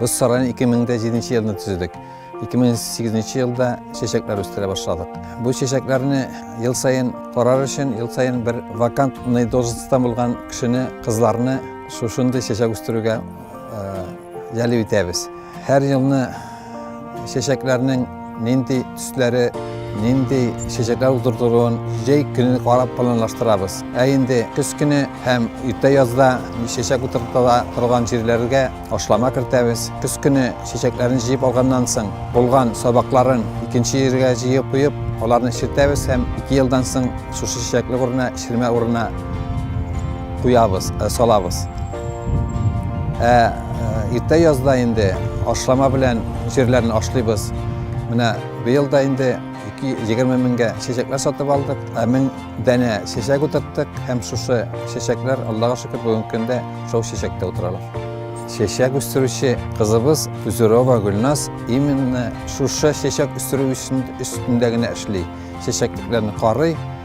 Без сарайны 2007 елда төзедек. 2008 елда чәчәкләр үстерә башладык. Бу чәчәкләрне ел саен карар өчен, ел саен бер вакантный должностьтан булган кешене, кызларны шушындый чәчәк үстерүгә җәлеп итәбез. Һәр елны чәчәкләрнең нинди төсләре, нинди чәчәкләр утыртылуын җәй көне карап планлаштырабыз. Ә инде көз көне һәм иртә язда чәчәк утыртыла торган җирләргә ашлама кертәбез. Көз көне чәчәкләрен җыеп алганнан соң, булган сабакларын икенче җиргә җыеп куеп, аларны чертәбез һәм 2 елдан соң шушы чәчәклек урынына, чирмә урынына куябыз, э, салабыз. Ә иртә язда инде ашлама белән җирләрне ашлыйбыз. Менә быел да инде 220 меңгә чәчәкләр сатып алдык, ә мең данә чәчәк утырттык һәм шушы чәчәкләр, Аллага шөкер, бүгенге көндә шул чәчәктә утыралар. Чәчәк үстерүче кызыбыз Тузерова Гөлназ именно шушы чәчәк үстерү өстендә генә эшли. Чәчәкләрне карый,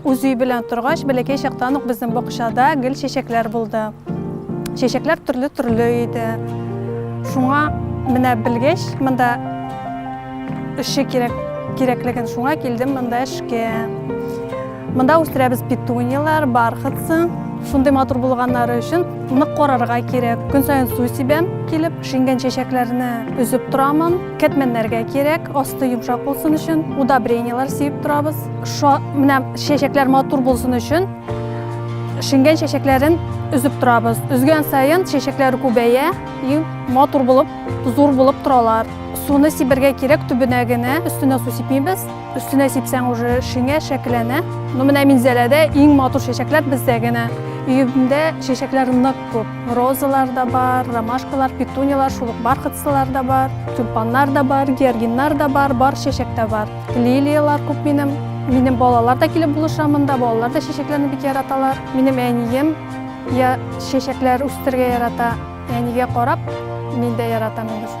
Үз өй белән торгач, бәләкәй чактан ук безнең бакчада гел чәчәкләр булды. Чәчәкләр төрле-төрле иде. Шуңа менә белгәч, монда эшче кирәк кирәклеген шуңа килдем монда эшкә. Монда үстерәбез петунияләр, бархатцы. Шундый матур булганнары өчен нык карарга кирәк. Көн саен су сибәм килеп, шиңгән чәчәкләрне өзеп торамын. Кәтмәннәргә кирәк, асты йомшак булсын өчен, удобренияләр сееп торабыз. Шо менә чәчәкләр матур булсын өчен шиңгән чәчәкләрен өзеп торабыз. Өзгән саен чәчәкләр күбәя и матур булып, зур булып торалар. Суны сибергә кирәк төбенә генә, өстенә су сипмибез. Өстенә сипсәң уже шиңә шәкеләнә. Ну менә Минзәләдә иң матур чәчәкләр бездә генә. Өемдә чәчәкләр нык Күп розалар да бар, ромашкалар, петуниялар, шул ук бархатсылар да бар, тюльпаннар да бар, георгиннар да бар, бар чәчәк тә бар. Лилиялар күп минем. Минем балалар да килеп булыша монда, балалар да чәчәкләрне бик яраталар. Минем әнием я чәчәкләр үстерергә ярата, әнигә карап, мин дә яратам инде.